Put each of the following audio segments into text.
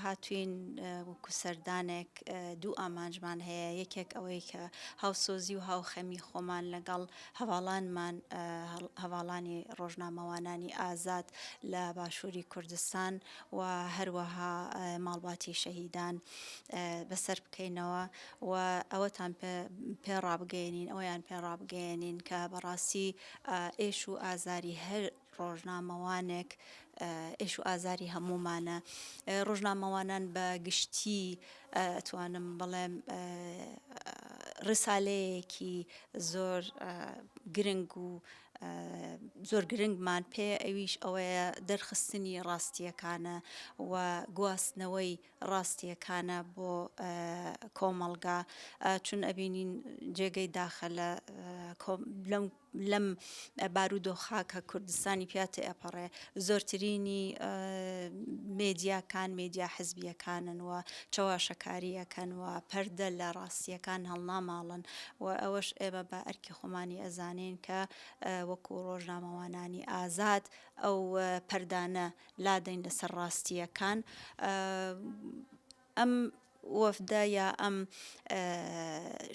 هاتووین وەکو سەردانێک دوو ئامانجمان هەیە یەکێک ئەوەی کە هاوسۆزی و هاوخەمی خۆمان لەگەڵ هەڤاڵانمان هەڤاڵانی ڕۆژنامەوانانی ئازاد لە باشووری کوردستان و هەروەها ماڵباتی شەهیدان بەسەر بکەینەوە و ئەوەتان پێ ڕابگەێنین ئەویان پێ ڕابگەێنین کە بەڕاستی ئێش و ئازاری هەر ڕۆژنامەوانێک ئێش و ئازاری هەموومانە، ڕۆژنامەوانان بە گشتی ئەتوانم بڵێم ڕسالەیەکی زۆر گرنگ و زۆر گرنگمان پێیە ئەویش ئەوەیە دەرخستنی ڕاستیەکانە و گواستنەوەی ڕاستیەکانە بۆ کۆمەڵگا چون ئەبینین جێگەی داخە لە لەم لەم بارودۆخە کە کوردستانی پیا تێئەپەڕێ زۆرترینی مێدیاکان مێدیا حزبییەکانن و چەواشەکاری ئەکەن و پەردە لە ڕاستییەکان هەڵناماڵن و ئەوەش ئێمە بە ئەرکی خۆمانی ئەزانین کە وەکوو ڕۆژنامەوانانی ئازاد ئەو پەردانە لادەین لەسەر ڕاستییەکان ئەم وەفدە یا ئەم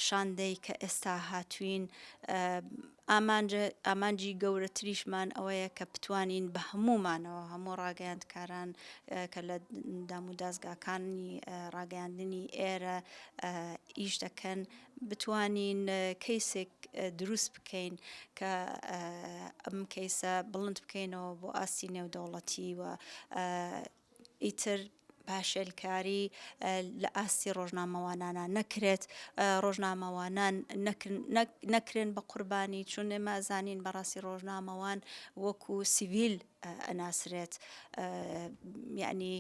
شاندەی کە ئێستا هاتووین ئامانجی گەورەتریشمان ئەوەیە کە بتوانین بە هەموومانەوە هەموو ڕاگەیاندکاران کە لە دام و دازگاکانی ڕاگەیاندنی ئێرە ئیش دەکەن بتوانین کەیسێک دروست بکەین کە ئەم کەیسە بڵند بکەینەوە بۆ ئاستی نێودەوڵەتی و ئیتر پاشێلکاری لە ئاستی ڕۆژنامەوانانا نەکرێت، ڕۆژنامەوانان نەکرێن بە قوربانی، چون ئێمە ئەزانین بە ڕاستی ڕۆژنامەوان وەکو سیڤیل ئەناسرێت، یەعنی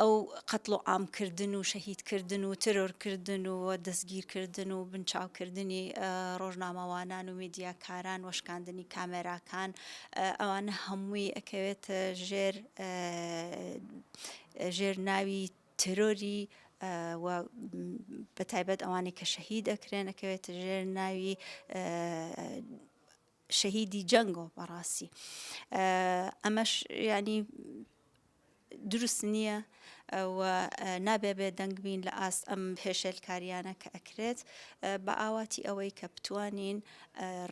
ئەو قەتڵ و عام کردن و شەهید کردن و تێرۆر کردن و دەسگیر کردن و بنچاو کردنی ڕۆژنامەوانان و میدیاکاران و شکاندنی کامێراکان ئەوانە هەمووی ئەکەوێتە ژێر ژێر ناوی ترۆری بە تایبەت ئەوانی کە شەهید ئەکرێن ئەکەوێتە ژێر ناوی شەهیدی جەنگۆ بەڕاستی ئەمەش ینی دروست نییە و نابێ بێ دەنگ بین لە ئاست ئەم هێشێلکاریانە کە ئەکرێت بە ئاواتی ئەوەی کە بتوانین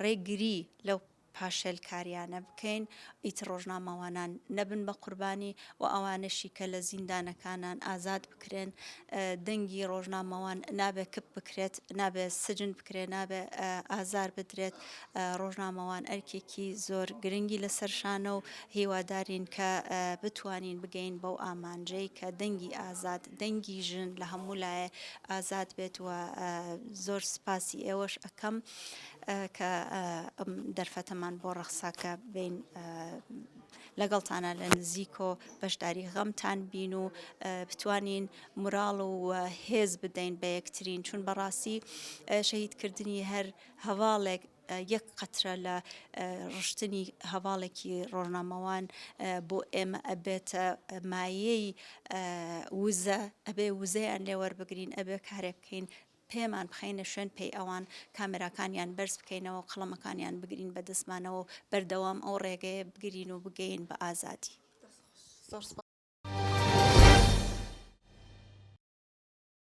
ڕێگری لەو پاشێلکاریانە بکەین ئیتر ڕۆژنامەوانان نەبن بە قوربانی و ئەوانەشی کە لە زیندانەکانان ئازاد بکرێن دەنگی ڕۆژنامەوان نابێ کپ بکرێت نابێ سجن بکرێت نابێ ئازار بدرێت ڕۆژنامەوان ئەرکێکی زۆر گرنگی لەسەر شانە و هیوادارین کە بتوانین بگەین بەو ئامانجەی کە دەنگی ئازاد دەنگی ژن لە هەموو لایە ئازاد بێت و زۆر سپاسی ئێوەش ئەەکەم کە ئەم دەرفەتەمان بۆ ڕەخسا کە بین لەگەڵتانە لە نزیکۆ بەشداری غەمتان بین و بتوانین مراڵ و هێز بدەین بە یەکترین چون بەڕاستی شەهیدکردنی هەر هەواڵێک یەک قەترە لە ڕشتنی هەواڵێکی ڕۆژنامەوان بۆ ئێمە ئەبێتە مایەی وزە ئەبێ وزەیان لێوەربگرین ئەبێ کارێک بکەین پێمان بخەینە شوێن پێی ئەوان، کامێراکانیان بەرز بکەینەوە و قەڵەمەکانیان بگرین بە دەستمانەوە و بەردەوام ئەو ڕێگەیە بگرین و بگەین بە ئازادی.